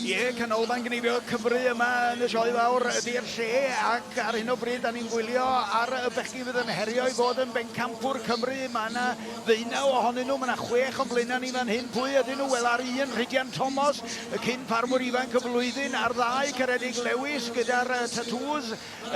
Ie, canolfan gnifio Cymru yma yn y sioe fawr ydy'r lle ac ar hyn o bryd da ni'n gwylio ar y bechgi fydd yn herio i fod yn bencampwr Cymru. Mae yna ddeunaw ohonyn nhw, mae yna chwech o'n blaenau ni fan hyn. Pwy ydyn nhw? Wel, ar un Rhidian Thomas, y cyn ffarmwr ifanc y flwyddyn, ar ddau Ceredig Lewis gyda'r tatŵs,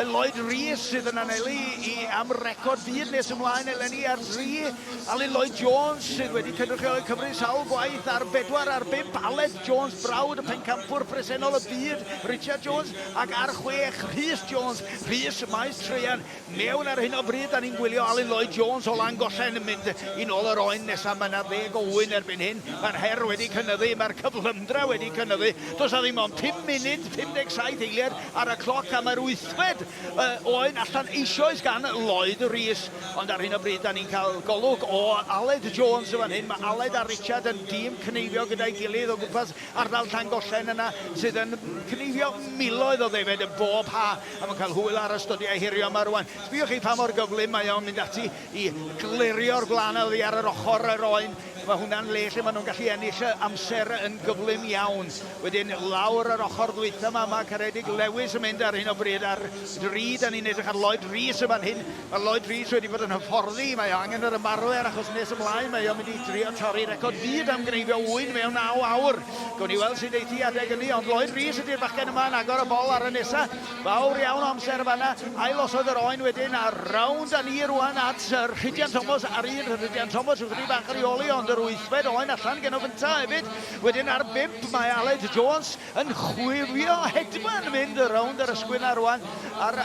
Lloyd Rees sydd yn anelu i am record byd nes ymlaen eleni ar dri, Alun Lloyd Jones sydd wedi cynrychioli Cymru sawl gwaith ar bedwar ar bump, Aled Jones brawd y pencampwr presennol y byd Richard Jones ac ar chwech Rhys Jones, Rhys maes traean mewn ar hyn o bryd 'da ni'n gwylio Alun Lloyd Jones o Langollen yn mynd i nôl yr oen nesaf mae 'na ddeg o ŵyn erbyn hyn mae'r her wedi cynyddu mae'r cyflymdra wedi cynyddu does 'na ddim ond pum munud 57 eiliad ar y cloc am yr wythfed yy oen allan eisioes gan Lloyd Rees. Ond ar hyn o bryd 'da ni'n cael golwg o Aled Jones yn fan hyn. Mae Aled a Richard yn dîm cneifio gyda'i gilydd o gwmpas ardal Llangollen yna sydd yn cneifio miloedd o ddefed yn bob ha a mae'n cael hwyl ar y stodio ehirio yma rŵan. Sbïwch chi pa mor gyflym mae o'n mynd ati. i glirio'r gwlân oddi ar yr ochr yr oen. Mae hwnna'n le lle maen nhw'n gallu ennill amser yn gyflym iawn. Wedyn lawr yr ochr ddwytha yma, mae Caredig Lewis yn mynd ar hyn o bryd ar dri. Da ni'n edrych ar Lloyd Rees yn fan hyn. Mae Lloyd Rees wedi bod yn hyfforddi, mae o angen yr ymarfer achos nes ymlaen mae o'n mynd i drio torri record byd am gneifio ŵyn mewn 9 awr. Gawn ni weld sut eithi adeg ynni, ond Lloyd Rees ydy'r bachgen yma yn agor y bol ar y nesa. Fawr iawn o amser yn fan'na. Ail-osod yr oen wedyn, a rownd â ni rwan at Rhydian Thomas ar un. Rhydian Thomas ychydig bach ar ei ôl hi, ond yr wythfed oen allan gen o gynta' hefyd. Wedyn ar bump mae Aled Jones yn chwifio hedfan mynd rownd yr ysgwyd 'na rwan, a'r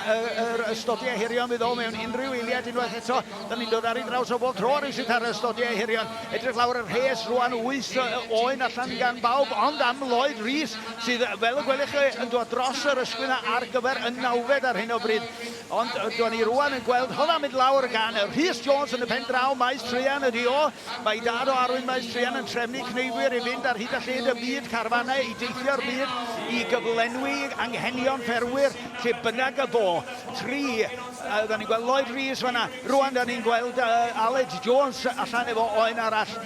yr ystodiau hirion fydd o mewn unrhyw eiliad unwaith eto. Da ni'n dod ar ei draws o bob tro rywsut ar yr ystodiau hirion. Edrych lawr y rhes rwan, wyth oen allan gan bawb, ond am Lloyd Rees. sydd fel y gwelwch chi yn dod dros yr ysgwyn ar gyfer y nawfed ar hyn o bryd. Ond do'n ni rwan yn gweld hwnna'n mynd lawr gan Rhys Jones yn y pen draw, Maes Truan ydi o. Mae dad o Arwyn Maes Truan yn trefnu cneifwyr i fynd ar hyd a lled y byd, carfanau i deithio'r byd i gyflenwi anghenion ffermwyr lle bynnag y bo. Tri, uh, da ni'n gweld Lloyd Rees fanna, rwan da ni'n gweld uh, Aled Jones allan efo oen arall.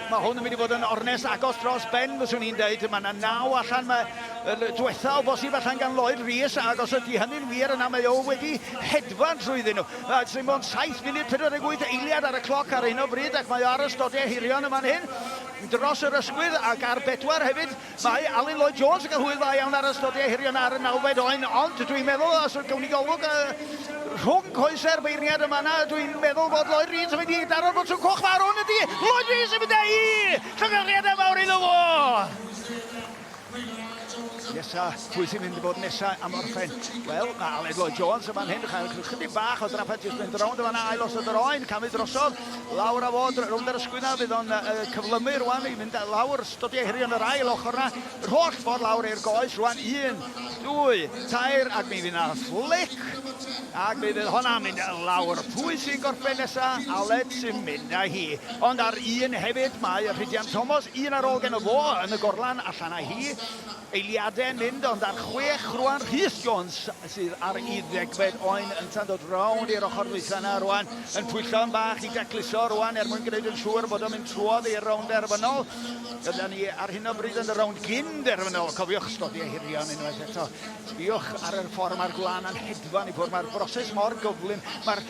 Mae hwn yn mynd i fod yn ornest agos dros ben fyswn i'n deud. Mae yna naw allan, mae y diwetha o bosib allan gan Lloyd Rees ac os ydy hynny'n wir yna mae o wedi hedfan trwyddyn nhw. Mae dim ond 7 munud 48 eiliad ar y cloc ar hyn o bryd ac mae o ar y stodiau hirion yn fan hyn dros yr ysgwydd ac ar bedwar hefyd. Mae Alun Lloyd Jones yn cael hwyl dda iawn ar y stodio hirion ar y nawfed oen, ond dwi'n meddwl os yw'r cwmni golwg yy rhwng coesau'r beirniad yn fan'na, dwi'n meddwl bod Lloyd Rees yn mynd i daro'r botwm coch fawr hwn, ydy, Lloyd Rees yn mynd a'i llongyfarchiadau mawr iddo fo! Nesa, pwy sy'n mynd i fod nesa am orffen? Wel, mae Aled Lloyd Jones yn fan hyn, chael chydig bach o drafferth jyst mynd rownd o fanna, ail osod yr oen, camu drosodd, lawr a fod, rownd yr ysgwydd na, fydd o'n cyflymu rwan i mynd lawr, Dodi ei herion yr ail ochr 'na yr holl ffordd lawr i'r goes rwan. Un, dwy, tair, ac mi fydd 'na fflic, ac mi fydd honna yn mynd lawr. Pwy sy'n gorffen nesa? Aled sy'n mynd â hi. Ond ar un hefyd mae Rhydian Tomos, un ar ôl geno fo yn y gorlan, allan â hi. Eiliade'n mynd, ond ar chwech rwan, Rhys Jones. sydd ar ei ddegfed oen yn tandod rownd i'r ochr ddwytha yna rwan, yn pwyllo'n bach i decluso rwan er mwyn gwneud yn siŵr bod o'n mynd trwodd i'r rownd derfynol. Dyna ni ar hyn o bryd yn y rownd gyn derfynol, cofiwch ysgodi ei hirion unwaith eto. Sbiwch ar yr ffordd mae'r gwlan yn hedfan i ffwrdd, mae'r broses mor gyflym, mae'r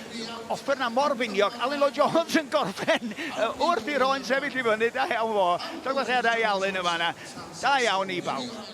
offer yna mor finiog. Alun Lloyd Jones yn gorffen wrth i'r oen sefyll i fyny, da iawn fo. Llongyfarchiadau i Alun yn fanna. Da iawn i bawb.